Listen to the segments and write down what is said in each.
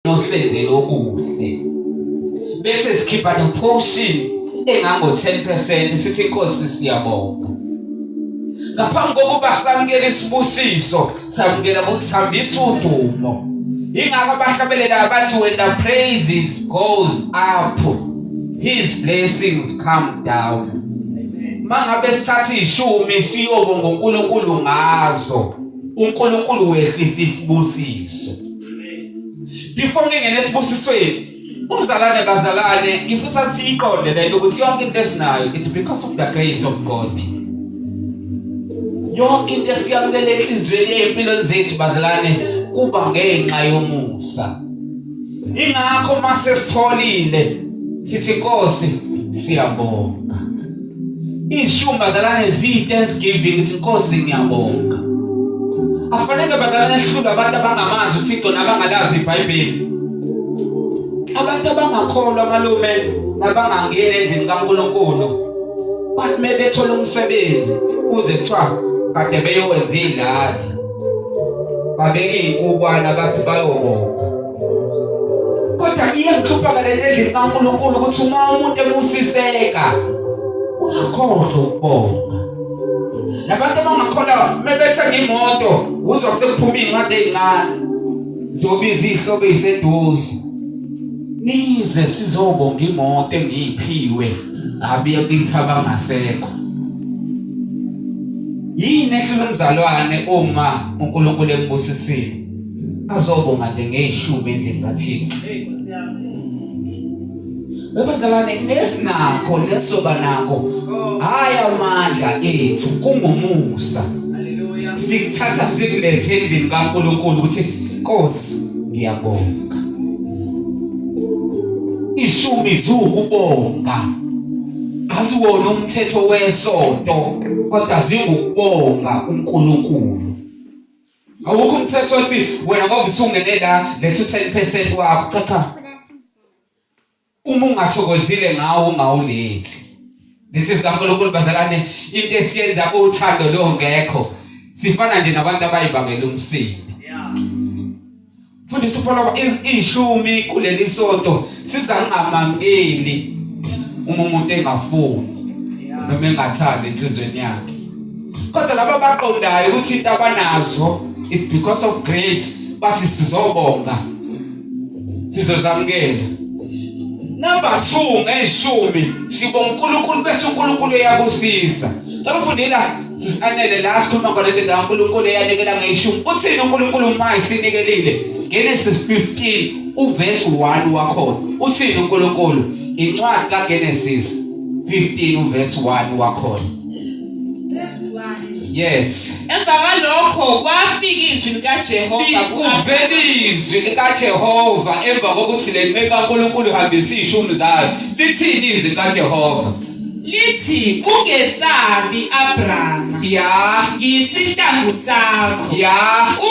nosenze lokuhle bese sikhipha the portion engango 10% sithi inkosi siyabonga ngaphambi kokuba samukele isibusiso samukela ngokuthambisa udumo ingakho abahlabelela abathi when the praises goes up his blessings come down mangabe sithatha ishumi siyobonga uNkulunkulu ngazo uNkulunkulu wehlisa isibusiso before ngingena esibusisweni umzalwane bazalwane ngifisa siyiqonde lento ukuthi yonke into esinayo it's because of the grace of God yonke into esiyamukele enhliziyweni empilweni zethu bazalwane kuba ngenxa yomusa ingakho uma sesitholile sithi Nkosi siyabonga ishumba zalane zi thanksgiving ukuthi Nkosi ngiyabonga afanele bazalane ehlulu abantu abangamazi uThixo nabangalazi iBhayibheli abantu abangakholwa malume nabangangena endlini kaNkulunkulu bathi mebethola umsebenzi kuze kuthiwa kade beyowenza ilathi babeke inkukwana bathi bayobonga kodwa iyangihlupha kalento endlini kaNkulunkulu ukuthi uma umuntu ebusiseka uyakhohlwa ukubonga nabantu abangakhona mebethenga imoto uzwa sekuphuma incwadi ezincane zobiza ihlobo eziseduze nize sizobonga imoto engiyiphiwe abuye kithi abangasekho yini ehlula umzalwane uma uNkulunkulu embusisile azobonga nje ngeyishumi endlini kaThixo Ubazalwane nesinakho nesoba nakho hayi amandla ethu kungumusa sikuthatha sikulethe endlini kaNkulunkulu ukuthi Nkosi ngiyabonga ishumi ziwukubonga aziwona umthetho wesonto kodwa zingukubonga uNkulunkulu awukho umthetho othi wena ngoba usungene la letha u-10 percent wakho cha cha Uma ungathokozile ngawo ungawulethi. Lethi zikaNkulunkulu bazalane into esiyenza uthando longekho. Sifana nje nabantu abayibangela umsindo. Fundisa uPholo ishumi kuleli sonto sizangamamkeli uma umuntu engafuni noma engathandi enhlizweni yakhe. Kodwa laba baqondayo ukuthi into abanazo it's because of grace bathi sizobonga sizozamukela number 2 ngeyishumi sibo uNkulunkulu bese uNkulunkulu uyakusiza cela ufundela sisanele la sikhuluma ngale nto la uNkulunkulu eyanikela ngeyishumi uthini uNkulunkulu uma isinikelile Genesis 15 uverse 1 wakhona uthini uNkulunkulu incwadi kaGenesis 15 uverse 1 wakhona Yes. Emva kwalokho kwafika izwi likaJehova kuvela izwi likaJehova emva kokuthi le nceku kaNkulunkulu ihambisa ishumi zayo. Lithini izwi likaJehova? lithi ungesabi Abraham ya ngisihlangu sakho ya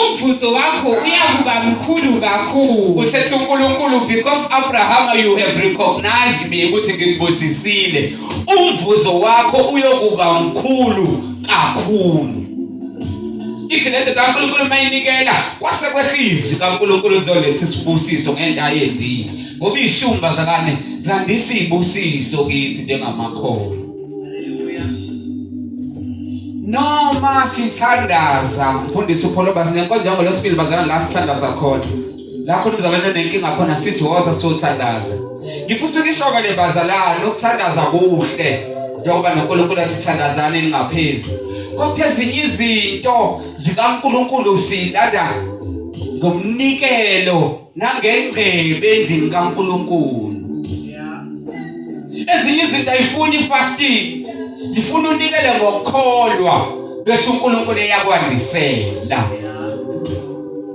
umvuzo wakho uyakuba mkhulu kakhulu usethi uNkulunkulu because Abraham you have recognized me ukuthi ngikubusisile umvuzo wakho uyokuba mkhulu kakhulu ithi lento kaNkulunkulu mayinikela kwase kwehlizi kaNkulunkulu uzoletha isibusiso ngento ayenziwe ngoba ishumba zakane zandisa ibusiso kithi njengamakhono noma sithandaza mfundisi upholo basinenkonzo yangolosibili bazana la sithandaza khona la khona umzalwane onenkinga khona sithi woza sothandaza ngifisa ukishoka le bazalwane ukuthandaza kuhle njengoba noNkulunkulu athi thandazani ningaphezi kodwa ezinye izinto zikaNkulunkulu silanda ngomnikelo nangengcebe endlini kaNkulunkulu ezinye izinto ayifuni fasting zifuna unikele ngokukholwa bese uNkulunkulu eyakwandisela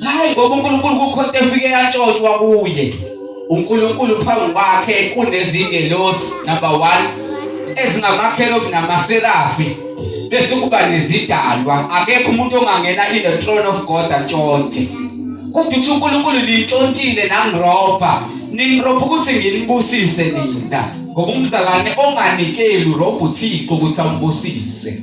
hayi ngoba uNkulunkulu kukhona efike yatshotshwa kuye uNkulunkulu phambi kwakhe kunezingelosi number 1 ezingamakhelo kunamaserafi bese kuba nezidalwa akekho umuntu ongangena in the throne of God atshontshe kodwa uthi uNkulunkulu lintshontshile nangiroba ningiroba ukuthi nginibusise nina ngoba umzalwane onganikeli urobha uthixo ukuthi ambusise